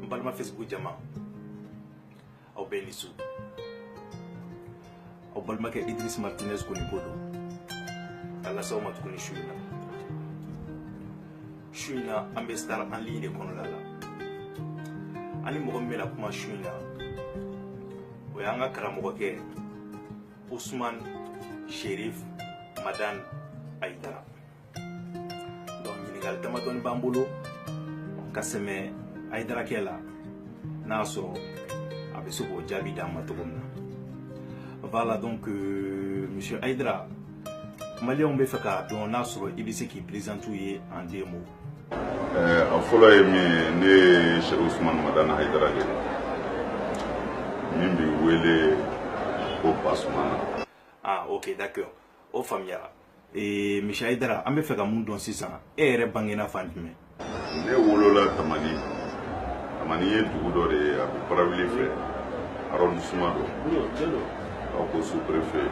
n balima facebook jama aw bɛɛ ni su aw balimakɛ idris martinez konipo don ka las'aw ma tuguni su in na su in na an bɛ star en ligne de kɔnɔla la an ni mɔgɔ min bɛna kuma su in na o y'an ka karamɔgɔkɛ usman sherif madan ayidara donc ɲininkali damadɔni b'an bolo ka sɛmɛ ayidarakɛ la n'a sɔrɔ a bɛ se k'o jaabi d'an ma cogo min na voilà donc euh, monsieur ayidara maliyɛnw bɛ fɛ k'a dɔn n'a sɔrɔ i bɛ se k'i présenter u ye en deux mots a fɔlɔ ye min ye ne ye sɛku usumani madani hayidara de min bɛ wele ko basumana ah ok d'accord o faamuyara ee monsieur hayidara an bɛ fɛ ka mun dɔn sisan e yɛrɛ bangena fan jumɛn ne wolola tamani tamani ye dugu dɔ de ye a bɛ barawuli fɛ arrondissement don aw ko sous-préfet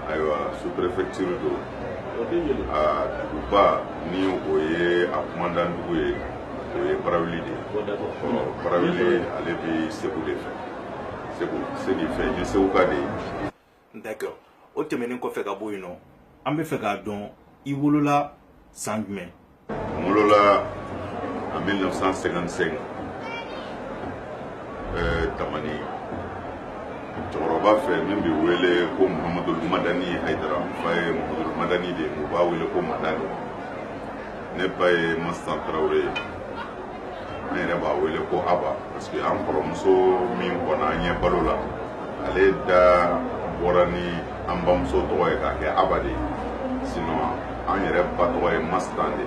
ayiwa sous-préfecture don a duguba ni o ye a kumandan dugu ye o ye barawuli de ye barawuli ale bɛ segu de fɛ segu fɛ ne ye seguka de ye. d'accord o tɛmɛnen kɔfɛ ka bɔ yen nɔ an bɛ fɛ k'a dɔn i wolola san jumɛn. N wolola en 1955 euh, Tamani cɛkɔrɔba fɛ min bɛ wele ko Muhammadu Madani Hayidara n fa ye Muhammadu Madani de ye u b'a wele ko Madani ne ba ye Mastan Tarawele ye an yɛrɛ b'a wele ko aba parce que an kɔrɔmuso min kɔnna an ɲɛ balo la ale da bɔra ni an bamuso tɔgɔ ye k'a kɛ aba de ye sinon an yɛrɛ ba tɔgɔ ye mastan de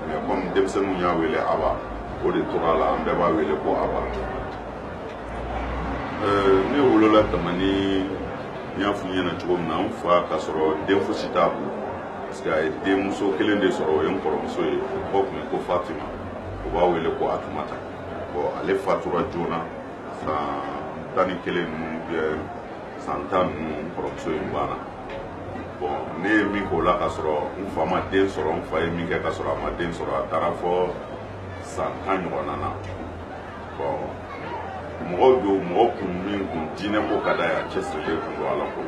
mais comme denmisɛnninw y'a wele aba o de tor'a la an bɛɛ b'a wele ko aba euh, ne wolola tamani n y'a f'u ɲɛna cogo min na n fa k'a sɔrɔ den fosi t'a bolo parce que a ye denmuso kelen de sɔrɔ o ye n kɔrɔmuso ye o tɔgɔ tun ye ko fatima u b'a wele ko atumata bon ale fatura joona san tan ni kelen ninnu bɛ san tan ninnu n kɔrɔmuso in banna bon ne ye min k'o la ka sɔrɔ n fa ma den sɔrɔ n fa ye min kɛ ka sɔrɔ a ma den sɔrɔ a taara fɔ san tan ɲɔgɔnna na bon mɔgɔ don mɔgɔ kun min kun diinɛ ko ka d'a ye a cɛsirilen kun don ala ko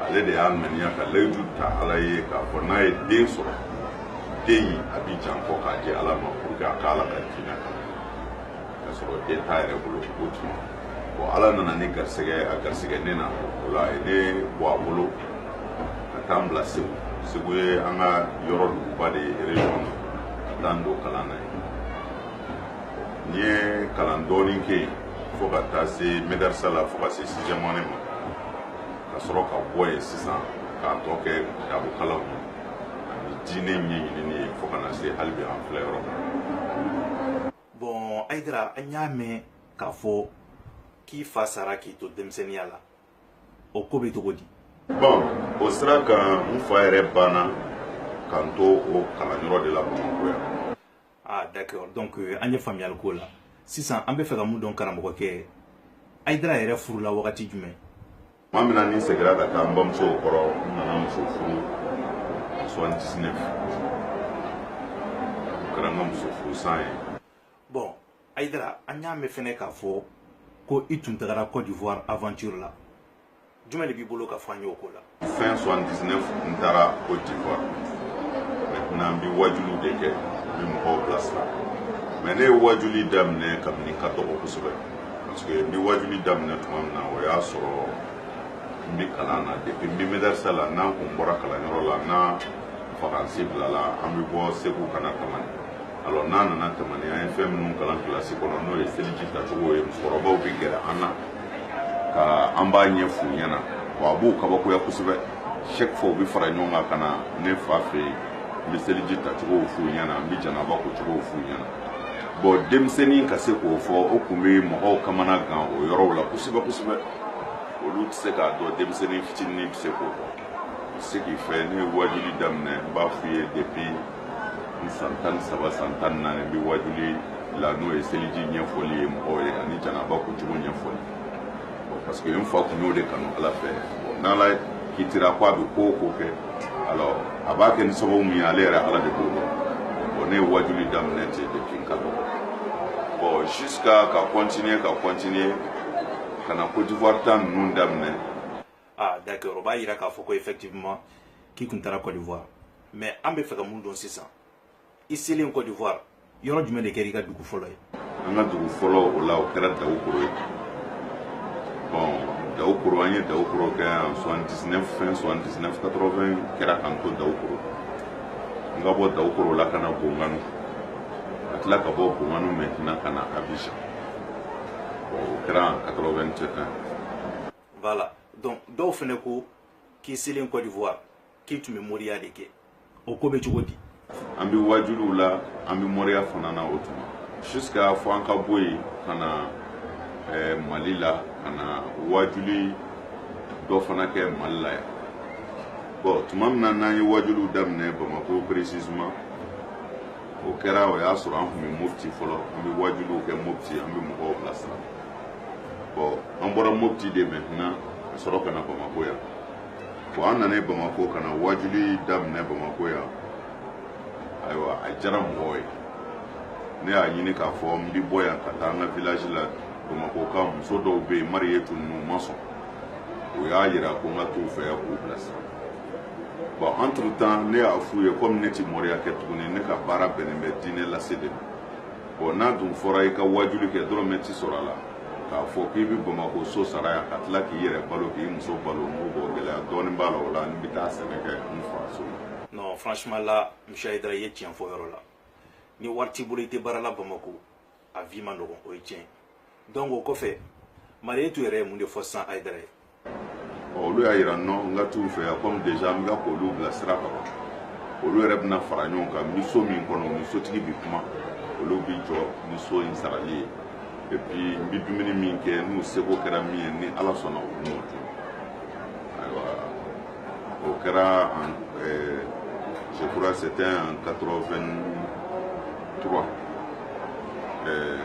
ale de y'a ŋaniya ka layidu ta ala ye k'a fɔ n'a ye den sɔrɔ den in a bɛ jɛn a kɔ k'a di ala ma pour que a ka ala ka diinɛ kalan ka sɔrɔ den t'a yɛrɛ bolo o tuma bon ala nana ni garisɛgɛ a garisɛgɛ ne na o la a ye ne bɔ a bolo ka taa n bila segu segu ye an ka yɔrɔ duguba de ye région na ka taa n don kalan na yen n ye kalan dɔɔnin kɛ yen fo ka taa se medarisa la fo ka se sixième année ma ka sɔrɔ ka bɔ yen sisan k'a tɔ kɛ dabokalaw ye diinɛ ɲɛɲinini ye fo ka na se hali bi an filɛ yɔrɔ min bon ayidara an y'a mɛn k'a fɔ k'i fa sara k'i to denmisɛnniya la o ko bɛ cogo di bɔn o sira kan n fa yɛrɛ banna k'an to o kalanyɔrɔ de la bamakɔ yan ah d'accord donc euh, an ye faamuyali k'o la sisan an b'a fɛ ka mun dɔn karamɔgɔkɛ ayidara yɛrɛ furula wagati jumɛn tuma min na ne segira ka taa n bamuso kɔrɔ n nana muso furu soixante dix neuf o kɛra n ka muso furu san ye bon ayidara an y'a mɛn fɛnɛ k'a fɔ ko i tun tagara côte d'ivoire aventure la jumɛn de b'i bolo ka fɔ an ye o ko la fin 79 n taara Côte d'Ivoire maintenant n bɛ wajuliw de kɛ n bɛ mɔgɔw bilasira mais ne ye wajuli daminɛ kabini n ka dɔgɔ kosɛbɛ parce que n bɛ wajuli daminɛ tuma min na o y'a sɔrɔ n bɛ kalan na depuis n bɛ medɛrisa la n'an kun bɔra kalanyɔrɔ la n'an vacances bilala an bɛ bɔ segu ka na tamani alors n'an nana tamani an ye fɛn minnu kalan kilasi kɔnɔ n'o ye seliji tacogo ye musokɔrɔbaw bɛ gɛrɛ an na ka an b'a ɲɛf'u ɲɛna wa a b'u kabakoya kosɛbɛ chaque fois u bɛ fara ɲɔgɔn kan ka na ne fa fɛ yen n bɛ seliji tacogow f'u ɲɛna n bɛ janaba kocogow f'u ɲɛna bon denmisɛnnin ka se k'o fɔ o kun bɛ mɔgɔw kamana gan o yɔrɔw la kosɛbɛ kosɛbɛ olu tɛ se k'a dɔn denmisɛnnin fitinin bɛ se k'o dɔn ce qui fait ne ye wajuli daminɛ n b'a f'i ye depuis n san tan ni saba san tan ni naani n bɛ waajuli la n'o ye seliji ɲɛfɔli ye mɔgɔw ye ani janaba kocogo ɲɛfɔli parce que n fa kun y'o de kanu ala fɛ bon n'ala kitira ko a bɛ ko o ko kɛ alors a b'a kɛ ni sababu min ye ale yɛrɛ ala de b'o dɔn bon ne ye waajuli daminɛ ten depuis n ka dɔgɔ bon jusqu'à ka continuer ka continuer ka na Côte d'Ivoire ta ninnu daminɛ ah d'accord o b'a yira k'a fɔ ko effectivement k'i kun taara Côte d'Ivoire mais an b'a fɛ ka mun dɔn sisan i selen Côte d'Ivoire yɔrɔ jumɛn de kɛra i ka dugu fɔlɔ ye an ka dugu fɔlɔ o la o kɛra Daoukro ye bon Daoukro an ye Daoukro kɛ en 79 fin 79 80 kɛra k'an to Daoukro n ka bɔ Daoukro la ka na Bongouanou ka tila ka bɔ Bongouanou maintenant ka na Abidjan bon o kɛra en 81 voilà donc dɔw fɛnɛ ko k'i selen côte d'ivoire k'i tun bɛ moriya de kɛ o ko bɛ cogo di an bɛ wajuliw la an bɛ moriya fana na o tuma jusqu'à fo an ka bɔ yen ka na eh, mali la ka na wajuli dɔ fana kɛ mali la yan bon tuma min na n'an ye wajuliw daminɛ bamako précisément o kɛra o y'a sɔrɔ an tun bɛ mopti fɔlɔ an bɛ wajuliw kɛ mopti an bɛ mɔgɔw bilasira bon an bɔra mopti de maintenant ka sɔrɔ ka na bamako yan bon an nana bamako ka na waajuli daminɛ bamako yan ayiwa a diyara mɔgɔw ye ne y'a ɲini k'a fɔ n bi bɔ yan ka taa an ka village la bamako ka muso dɔw bɛ yen mariyetu ninnu ma sɔn o y'a yira ko n ka t'u fɛ yan k'u bilasira bon entre temps ne y'a f'u ye komi ne ti moriya kɛ tuguni ne ka baara bɛnnen bɛ diinɛ lase de ma bon n'a dun fɔra i ka waajuli kɛ dɔrɔmɛ tɛ sɔrɔ a la k'a fɔ k'i bɛ bamakɔ so sara yan ka tila k'i yɛrɛ balo k'i muso balo non bon gɛlɛya dɔɔnin b'a la o la n bɛ taa sɛnɛ kɛ n fa so yen. non franchement là monsieur ayidara i ye tiɲɛ fɔ yɔrɔ la ni wari t'i bolo i tɛ baara la bamakɔ a vie man nɔgɔn o ye tiɲɛ donc o kɔfɛ mariyetu yɛrɛ ye mun de fɔ sisan ayidara ye. olu y'a yira non n ka t'u fɛ yan komi déjà n bɛ ka k'olu bilasira ka ban olu yɛrɛ bɛna fara ɲɔgɔn kan n bɛ so min kɔnɔ ni sotigi bɛ kuma olu bɛ jɔ ni so in sarali ye et puis n bɛ dumuni min kɛ n'u seko kɛra min ye ni ala sɔnna u b'o di n ma ayiwa o kɛra en euh, je crois c'était en 83 83 euh,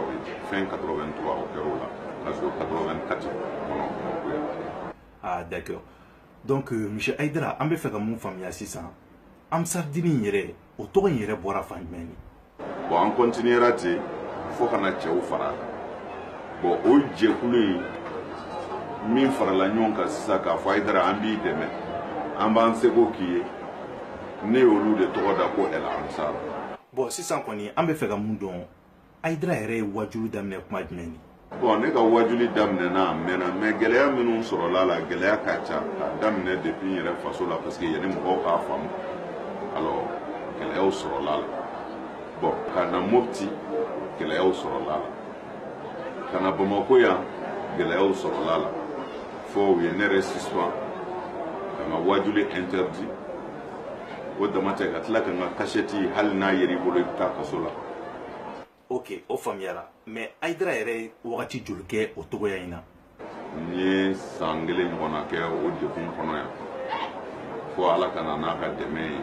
oui fin 83 o kɛra o la Parce que 84 kɔnɔ o yan. Ah d'accord. Donc euh, monsieur Aïdara an bɛ fɛ ka mun faamuya sisan Ansardini in yɛrɛ o tɔgɔ in yɛrɛ bɔra fan jumɛn ni? Bon an continuera ten fo ka na cɛw fara a kan. Bon o jɛkulu in min farala ɲɔgɔn kan sisan k'a fɔ Aïdara an b'i dɛmɛ an b'an seko k'i ye ne y'olu de tɔgɔ da ko El Ansar. Bon sisan kɔni an bɛ fɛ ka mun dɔn ayidara yɛrɛ ye wajuli daminɛ kuma jumɛn ni bon ne ka wajuli daminɛna a mɛnna mais gɛlɛya minnu sɔrɔla la gɛlɛya ka ca k'a daminɛ depuis n yɛrɛ faso la parce que yanni mɔgɔw k'a faamu alors gɛlɛyaw sɔrɔla la bon ka na mopti gɛlɛyaw sɔrɔla la ka na bamako yan gɛlɛyaw sɔrɔla la fo u ye ne yɛrɛ suspend ka n ka wajuli interdit o dama tɛ ka tila ka n ka kasɛti hali n'a yera i bolo i bɛ taa kaso la ok o faamuyara mais ayidara yɛrɛ ye wagati joli kɛ o cogoya in na n ye san kelen ɲɔgɔnna kɛ o degun kɔnɔ yan fo ala ka na n'a ka dɛmɛ ye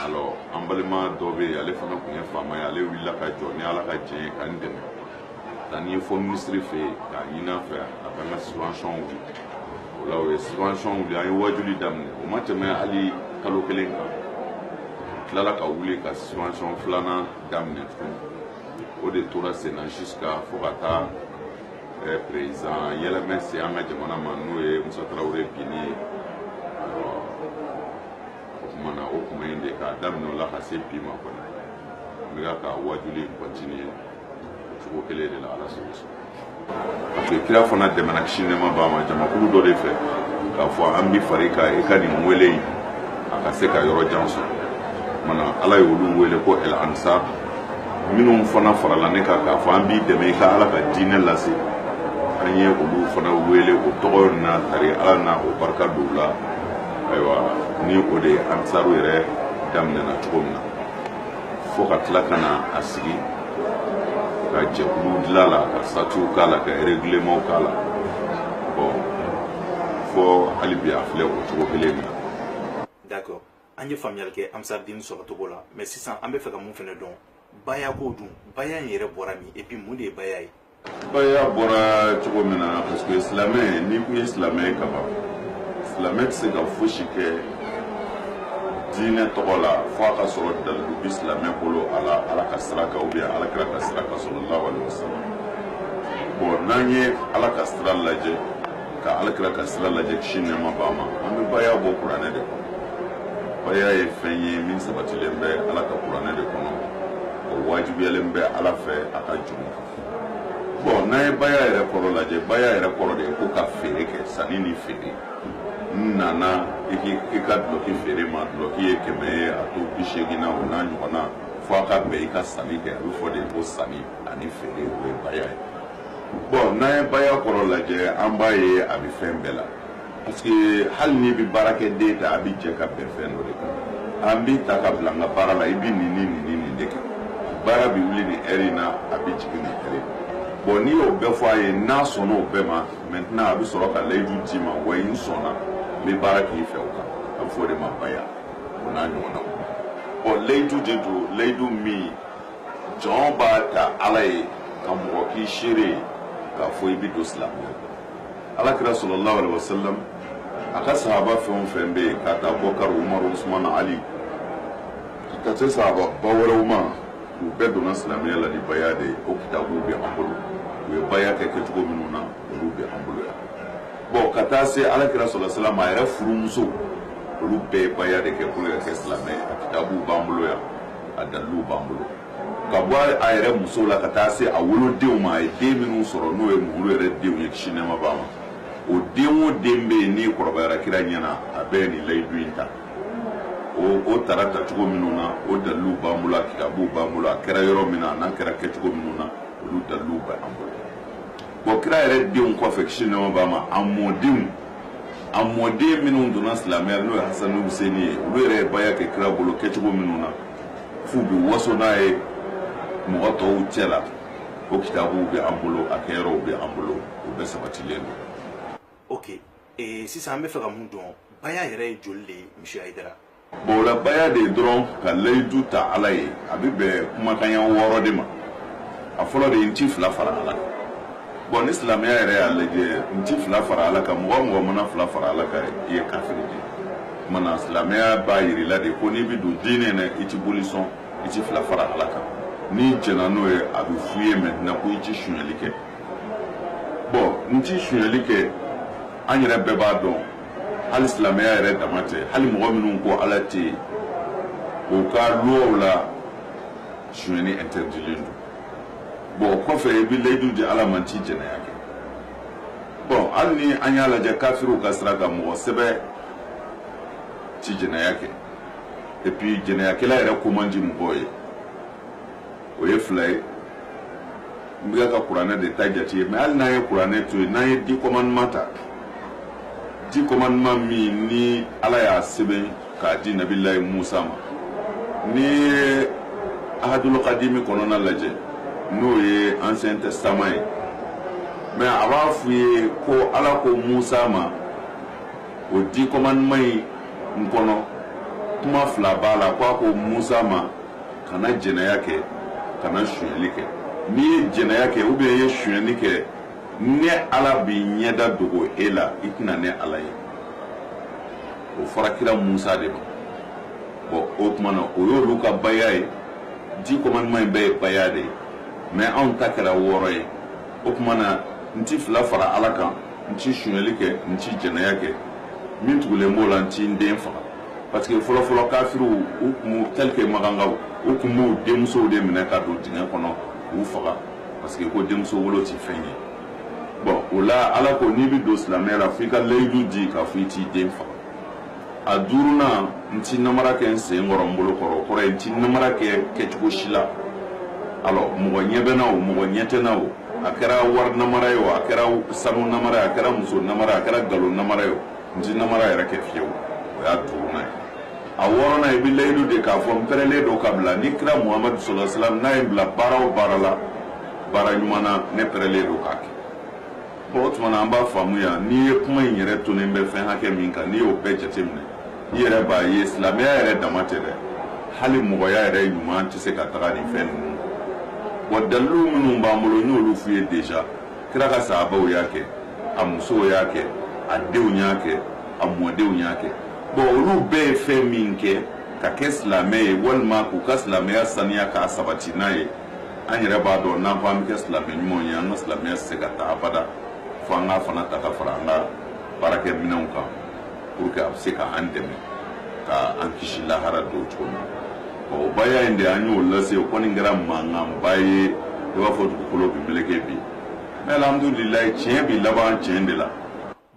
alors an balima dɔ bɛ yen ale fana tun ye faama ye ale wulila ka jɔ ni ala ka jɛn ye ka n dɛmɛ taa ni n ye fo minisiri fɛ yen k'a ɲini a fɛ a ka an ka suspension wuli o la o ye suspension wuli an ye waajuli daminɛ o ma tɛmɛ hali kalo kelen kan a tilala ka wuli ka suspension filanan daminɛ tuguni o de tora sen na jusqu'à fo ka taa eh, président yɛlɛmɛ se an ka jamana ma n'o ye musa tarawele binni ye o tuma na o kuma in de k'a daminɛ o la ka se bi ma kɔni n bɛ ka n ka waajuli in continuer cogo kelen de la ala sago sɔrɔ parce que kira fana dɛmɛna kisi nɛɛma b'a ma jamakulu dɔ de fɛ k'a fɔ an bi fara i kan i ka nin wele in a ka se ka yɔrɔ jan sɔrɔ mana ala ye olu wele ko el ansar minnu fana farala ne kan k'a fɔ an b'i dɛmɛ i ka ala ka diinɛ lase an ye olu fana wele o tɔgɔ na tari ala na o barika don u la ayiwa ni o de ye ansaru yɛrɛ daminɛna cogo min na fo ka tila ka na a sigi ka jɛkulu dilan a la ka statutw k'a la ka règlementw k'a la bon fo hali bi a filɛ o cogo kelen na d'accord an ye faamuyali kɛ ansardini sɔrɔcogo la mais sisan an bɛ fɛ ka mun fɛnɛ dɔn bayako dun baya in yɛrɛ bɔra min et puis mun de ye baya ye Baya bɔra cogo min na parce que silamɛ n'i ko n ye silamɛ ye kaban silamɛ tɛ se ka fosi kɛ diinɛ tɔgɔ la fo a ka sɔrɔ dalilu bi silamɛ bolo a la ala ka sira kan ou bien alakira ka sira kan sallallahu alaihi wasallam bon n'an ye ala ka sira lajɛ ka alakira ka sira lajɛ kisi nɛɛma b'a ma an bɛ baya bɔ kuranɛ de kɔnɔ baya ye fɛn ye min sabatilen bɛ ala ka kuranɛ de kɔnɔ o wajibiyalen bɛ ala fɛ a ka jɔn kan bon n'an ye baya yɛrɛ kɔrɔ lajɛ baya yɛrɛ kɔrɔ de ye ko ka feere kɛ sanni ni feere n nana i k'i ka dulɔki feere n ma dulɔki ye kɛmɛ ye a to bi seegin na o n'a ɲɔgɔnna fo a ka bɛn i ka sanni kɛ a bɛ fɔ de ko sanni ani feere o ye baya ye bon n'an ye baya kɔrɔ lajɛ an b'a ye a bɛ fɛn bɛɛ la Parce que hali n'i bɛ baarakɛden ta a bɛ jɛ ka bɛn fɛn dɔ de kan an b'i ta ka bila an ka baara la i bɛ nin ni nin ni nin de kɛ baara bɛ wuli nin heure in na a bɛ jigin nin heure in na bon n'i y'o bɛɛ fɔ a ye n'a sɔnna o bɛɛ ma maintenant a bɛ sɔrɔ ka layidu d'i ma wa n sɔnna n bɛ baara k'i fɛ o kan a bɛ fɔ o de ma baya o n'a ɲɔgɔnnaw bon layidu de don layidu min jɔn b'a ta ala ye ka mɔgɔ k'i seere ye k'a fɔ i bɛ don silamɛya la alakira sallallahu alaihi wasallam a ka sahaba fɛn o fɛn bɛ yen k'a ta abubakari umaru usman ali ka se sahaba ba wɛrɛw ma u bɛɛ donna silamɛya la ni baya de ye o kitabuw bɛ an bolo u ye baya kɛ kɛcogo minnu na olu bɛ an bolo yan bon ka taa se alakira sallallahu alaihi wasallam a yɛrɛ furumuso olu bɛɛ ye baya de kɛ pour ka kɛ silamɛ ye a kitabuw b'an bolo yan a daliluw b'an bolo ka bɔ a yɛrɛ muso la ka taa se a wolodenw ma a ye den minnu sɔrɔ n'o ye olu yɛrɛ denw ye kisi nɛɛma b'a ma o den o den bɛ yen n'i kɔrɔbayara kira ɲɛna a bɛɛ ye nin layidu in ta o o tara tacogo minnu na o daliluw b'an bolo a kitabuw b'an bolo a kɛra yɔrɔ min na a n'a kɛra kɛcogo minnu na olu daliluw bɛ an bolo bon kira yɛrɛ denw kɔfɛ kisi nɛɛma b'a ma a mɔdenw a mɔden minnu donna silamɛya n'o ye hasan ni huseni ye olu yɛrɛ ye baya kɛ kira bolo kɛcogo minnu na f'u bɛ waso n'a ye mɔgɔ tɔw cɛ la o kitabuw bɛ an bolo a kɛyɔrɔw bɛ an bolo o bɛɛ sabatilen don ok eh, sisan an bɛ fɛ ka mun dɔn baya yɛrɛ ye joli de ye monsieur hayidara bon o la baya de ye dɔrɔn ka layidu ta ala ye a bɛ bɛn kumakan ɲɛ wɔɔrɔ de ma a fɔlɔ de ye n ti fila fara ala Bon ni silamɛya yɛrɛ y'a lajɛ n tɛ fila fara Ala kan mɔgɔ o mɔgɔ mana fila fara Ala kan i ye kafiri de ye o tuma na silamɛya b'a jira i la de ko n'i bɛ don diinɛ in na i tɛ boli sɔn i tɛ fila fara Ala kan n'i jɛnna n'o ye a bɛ f'i ye maintenant ko i tɛ sonyali kɛ bon n tɛ sonyali kɛ an yɛrɛ bɛɛ b'a dɔn hali silamɛya yɛrɛ dama tɛ hali mɔgɔ minnu ko Ala tɛ yen u ka luwaw la sonyali interdilen don bon o kɔfɛ i bɛ layidu di ala ma n ti jɛnɛya kɛ bon hali ni an y'a lajɛ kafiriw ka sira kan mɔgɔ sɛbɛ ti jɛnɛya kɛ et puis jɛnɛyakɛla yɛrɛ ko man di mɔgɔw ye o ye fila ye n bɛ ka kuranɛ de ta jate ye mais hali n'an ye kuranɛ to yen n'an ye dix commandements ta dix commandements min ni ala y'a sɛbɛn k'a di nabilayi musa ma n'i ye ahadul kadimi kɔnɔna lajɛ n'o ye ancien testament ye mais a b'a f'u ye ko ala ko musa ma o dix commandements in kɔnɔ kuma fila b'a la ko a ko musa ma kana jɛnɛya kɛ kana sonyɛli kɛ n'i ye jɛnɛya kɛ ou bien i ye sonyɛni kɛ ne ala bɛ n ɲɛda dogo e la i tɛna ne ala ye o fɔra kira musa de ma bon o tuma na o y'olu ka baya ye dix commandements in bɛɛ ye baya de ye mais anw ta kɛra wɔɔrɔ ye o tuma na n ti fila fara ala kan n ti sunyali kɛ n ti jɛnɛya kɛ min tugulen b'o la n ti n den faga parce que fɔlɔfɔlɔ kafiriw u kun tel que makankaw u kun b'u denmusow de minɛ ka don dingɛ kɔnɔ k'u faga parce que ko denmuso wolo ti fɛn ye bon o la ala ko n'i bɛ don silamɛya la fo i ka layidu di k'a fɔ i t'i den faga a duurunan n ti namara kɛ n sen kɔrɔ n bolo kɔrɔ o kɔrɔ ye n ti namara kɛ kɛcogo si la alors mɔgɔ ɲɛ bɛ na o mɔgɔ ɲɛ tɛ na o a kɛra wari namara ye o a kɛra sanu namara ye a kɛra muso namara ye a kɛra nkalon namara ye o n ti namara yɛrɛ kɛ fiyewu o y'a duurunan ye a wɔɔrɔnan i bɛ layidu di k'a fɔ n pɛrɛlen don ka bila ni kira muhamadu sallallahu alaihi wasallam n'a ye n bila baara o baara la baara ɲuman na ne pɛrɛlen don k'a kɛ bon o tuma na an b'a faamu yan n'i ye kuma in yɛrɛ tonen bɛ fɛn hakɛ min kan n'i y'o bɛɛ jateminɛ i yɛrɛ b'a ye silamɛya yɛrɛ dama tɛ dɛ hali mɔgɔya yɛrɛ ɲuman tɛ se ka taga nin fɛn ninnu wa dalilu minnu b'an bolo n y'olu f'u ye déjà kira ka sahabaw y'a kɛ a musow y'a kɛ a denw y'a kɛ a mɔdenw y'a kɛ bon olu bɛɛ ye fɛn min kɛ ka kɛ silamɛ ye walima k'u ka silamɛya saniya k'a sabati n'a ye an yɛrɛ b'a dɔn n'an ko an bɛ kɛ silamɛ ɲumanw ye an ka silamɛya tɛ se ka taa abada fo an k'a fana ta ka fara an ka baarakɛminɛnw kan pour que a bɛ se ka an dɛmɛ ka an kisi lahara don cogo min na o baya in de an y'o lase o kɔni kɛra mankanba ye i b'a fɔ dugukolo bɛ meleke bi mais alhamdulilayi tiɲɛ bi laban tiɲɛ de la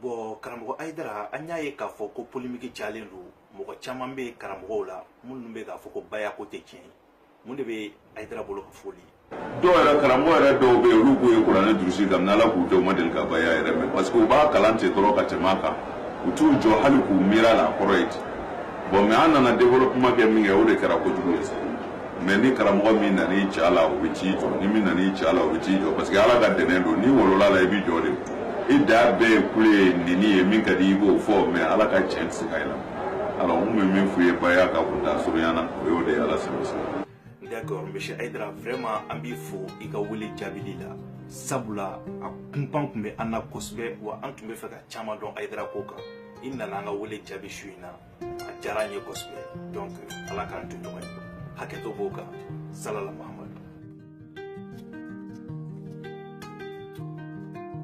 bon karamɔgɔ ayidara an y'a ye k'a fɔ ko polimiki cayalen don mɔgɔ caman bɛ karamɔgɔw la minnu bɛ k'a fɔ ko bayako tɛ tiɲɛ ye mun de bɛ ayidara bolo ka foli dɔw yɛrɛ karamɔgɔ yɛrɛ dɔw bɛ yen olu k'u ye kuranɛ durusi daminɛ ala k'u dɔw ma deli ka baya yɛrɛ mɛn parce que u b'a kalan ten dɔrɔn ka tɛmɛ a kan u t'u jɔ hali k'u miiri a la a kɔrɔ ye ten bon mais an nana développement kɛ min kɛ o de kɛra kojugu ye sa mais ni karamɔgɔ min nana i c'a la o bɛ t'i jɔ ni min nana i c'a la o bɛ t'i jɔ parce que ala ka dɛnɛn don n'i wolola la i b'i jɔ de i da bɛɛ ye kule ye nini ye min ka di i b'o fɔ mais ala ka tiɲɛ tɛ se ka yɛlɛma Alors, n bɛ min f'u ye baya kan kuntaa surunya na, o y'o de ye Ala sago i sago. D'accord, monsieur Ayidara, vraiment, an b'i fo i ka wele jaabili la. Sabula, a kunpan tun bɛ an na kosɛbɛ wa an tun b'a fɛ ka caman dɔn Ayidara ko kan. I nana an ka wele jaabi su in na. A diyara an ye kosɛbɛ. Donc, Ala k'an to ɲɔgɔn ye. Hakɛto b'o kan. Salala Mahamadu.